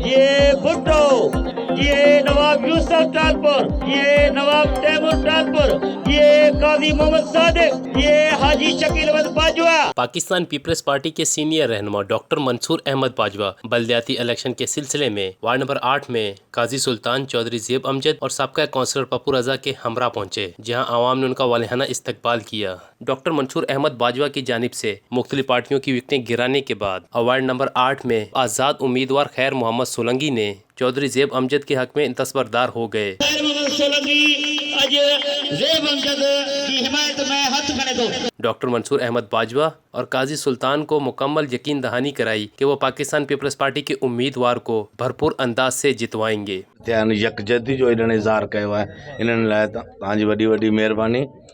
جيئي ڀٽو، جيئي نواب يوسف ٽالپر، جيئي نواب تيمور ٽالپر، جيئي قاضي محمد صادق، جيئي حاجي شڪيل احمد باجوه. پاڪستان پيپلز پارٽي ڪي سينئر رهنما ڊاڪٽر منصور احمد باجوه بلدياتي اليڪشن ڪي سلسلي مين وارڊ نمبر آٺ مين قاضي سلطان چوڌري زيب امجد اور سابقه ڪونسلر پپو رضا ڪي همراه پهنچي جهان عوام ني انڪا والهانه استقبال ڪيا ڊاڪٽر منصور احمد باجوه ڪي جانب سي مختلف پارٽيون ڪي وڪٽين گرانے ڪي بعد اوارڊ نمبر آٺ مين آزاد اميدوار خير محمد سولنگي ني چوڌري زيب امجد ڪي حق مين دسبر دار هو گئي. خير محمد سولنگي اڄ زيب امجد ڪي حمايت مين هٿ کڻي ٿو. ڊاڪٽر منصور احمد باجوه اور قاضي سلطان ڪو مڪمل يقين دهاني ڪرائي ڪي وو پاڪستان پيپلز پارٽي ڪي اميدوار ڪو ڀرپور انداز سي جتوائين گي. ٿيا آهن يڪجهتي جو انهن اظهار ڪيو آهي انهن لاء توهان جي وڏي وڏي مهرباني.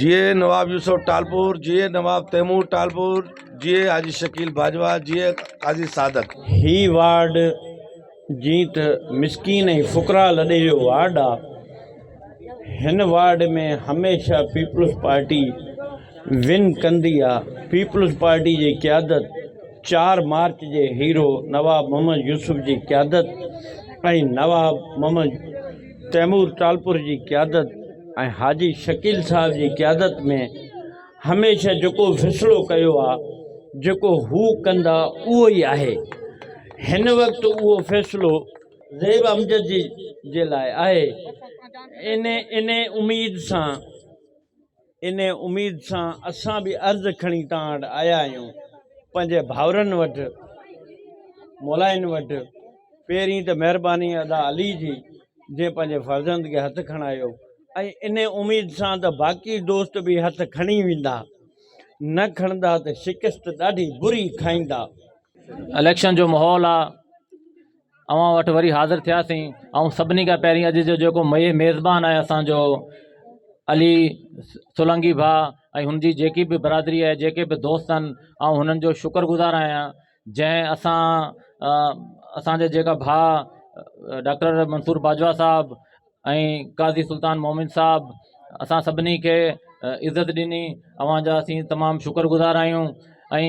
جيئي نواب يوسف ٽالپور جيئي نواب تيمور ٽالپور جيئي حاجي شڪيل باجوا جيئي قاضي صادق. هي وارڊ جيئن ته مسڪين ۽ فقراء لڏي جو وارڊ آ هن وارڊ ۾ هميشه پيپلز پارٽي ون ڪندي آ پيپلز پارٽي جي قيادت چار مارچ جي هيرو نواب محمد يوسف جي قيادت ۽ نواب محمد تيمور ٽالپر جي قيادت ۽ حاجي شڪيل صاحب جي قيادت ۾ هميشه جيڪو فيصلو ڪيو آ جيڪو هو ڪندا اهو ئي آهي هن وقت اهو فيصلو زيب امجد جي جي لاء آهي انهي انهي اميد سان انهي اميد سان اسان به عرض کڻي توهان وٽ آيا آهيون پنهنجي ڀائرن وٽ مولائن وٽ پهرين ته مهرباني ادا علي جي جنهن پنهنجي فرزند کي هٿ کڻايو ۽ انهي اميد سان ته باقي دوست به هٿ کڻي ويندا نه کڻندا ته شڪست ڏاڍي بري کائيندا. اليڪشن جو ماحول آ اوهان وٽ وري حاضر ٿياسين ۽ سڀني کان پهرين اڄ جو جيڪو ميزبان آهي اسانجو علي سولنگي ڀاء ۽ هن جي جيڪي به برادري آهي جيڪي به دوست آهن آئون هنن جو شڪر گذار آهيان جنهن اسان اسانجا جيڪا ڀاء ڊاڪٽر منصور باجوا صاحب ۽ قاضي سلطان مومن صاحب اسان سڀني کي عزت ڏني اوهان جا اسين تمام شڪر گذار آهيون ۽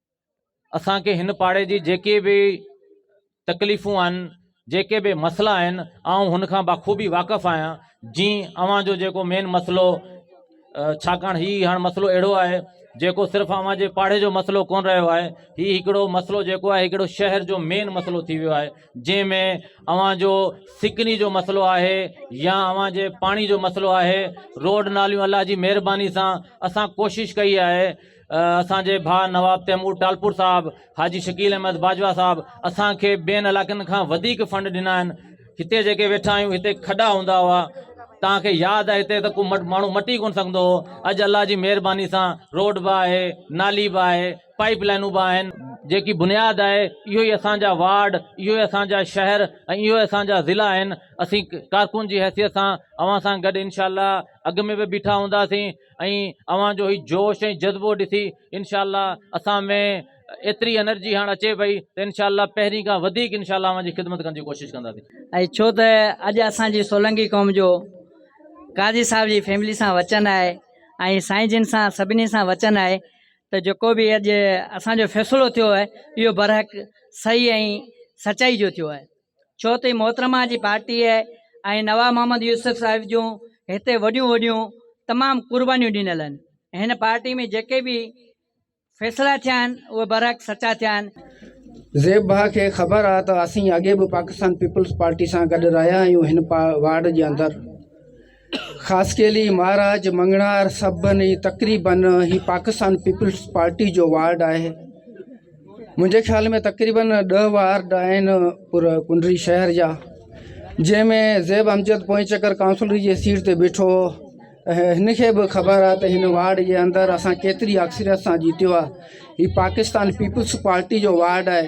اسان کي هن پاڙي جي جيڪي به تڪليفون آهن جيڪي به مسئلا آهن آئون هن کان بخوبي واقف آهيان جي اوهان جو جيڪو مين مسئلو ڇاڪاڻ هي هاڻ مسئلو اهڙو آهي جيڪو صرف اوهان جي پاڙي جو مسئلو ڪون رهيو آهي هي هڪڙو مسئلو جيڪو آهي هڪڙو شهر جو مين مسئلو ٿي ويو آهي جنهن ۾ اوهان جو سڪني جو مسئلو آهي يا اوهان جي پاڻي جو مسئلو آهي روڊ ناليون الله جي مهرباني سان اسان ڪوشش ڪئي آهي اسان جي ڀاء نواب تيمور ٽالپور صاحب، حاجي شڪيل احمد باجوا صاحب اسان کي ٻين علائقن کان وڌيڪ فنڊ ڏنا آهن. هتي جيڪي ويٺا آهيون هتي کڏا هوندا هئا. توهان کي ياد آهي هتي ته ڪو ماڻهو مٽي ڪونه سگهندو هو. اڄ الله جي مهرباني سان روڊ به آهي، نالي به آهي، پائيپ لائنون به آهن. جيڪي بنياد آهي اهو ئي اسان جا وارڊ، اهو ئي اسان جا شهر ۽ اهو ئي اسان جا ضلعا آهن. اسين ڪارڪن جي حيثيت سان اوهان سان گڏ انشاء الله اڳ ۾ به بيٺا هونداسين. ۽ اوهان جو هي جوش ۽ جذبو ڏسي انشاء الله اسان ۾ ايتري انرجي هاڻ اچي پئي ته انشاء الله پهرين کان وڌيڪ انشاء الله اوهان جي خدمت ڪرڻ جي ڪوشش ڪنداسين. ۽ ڇو ته اڄ اسان جي سولنگي قوم جو قاضي صاحب جي فيملي سان وچن آهي ۽ سائين جن سان سڀني سان وچن آهي ته جيڪو به اڄ اسان جو فيصلو ٿيو آهي اهو برحق صحيح ۽ سچائي جو ٿيو آهي. ڇو ته محترمه جي پارٽيء ۽ نواب محمد يوسف صاحب جون هتي وڏيون وڏيون تمام قربانيون ڏنل آهن ۽ هن پارٽيء ۾ جيڪي به فيصلا ٿيا آهن اهي برحق سچا ٿيا آهن. زيب بهاء کي خبر آهي ته اسين اڳي به پاڪستان پيپلز پارٽي سان گڏ رهيا آهيون هن واڙ جي اندر. خاصخيلي، مهاراج مڱڻهار سڀني ۽ تقريباً هي پاڪستان پيپلز پارٽي جو وارڊ آهي. منهنجي خيال ۾ تقريباً ڏهه وارڊ آهن پر ڪنري شهر جا جنهن ۾ زيب امجد پوئين چڪر ڪائونسلر جي سيٽ تي بيٺو هو ۽ هن کي به خبر آهي ته هن وارڊ جي اندر اسان ڪيتري اڪثريت سان جيتيو آهي. هي پاڪستان پيپلز پارٽي جو وارڊ آهي.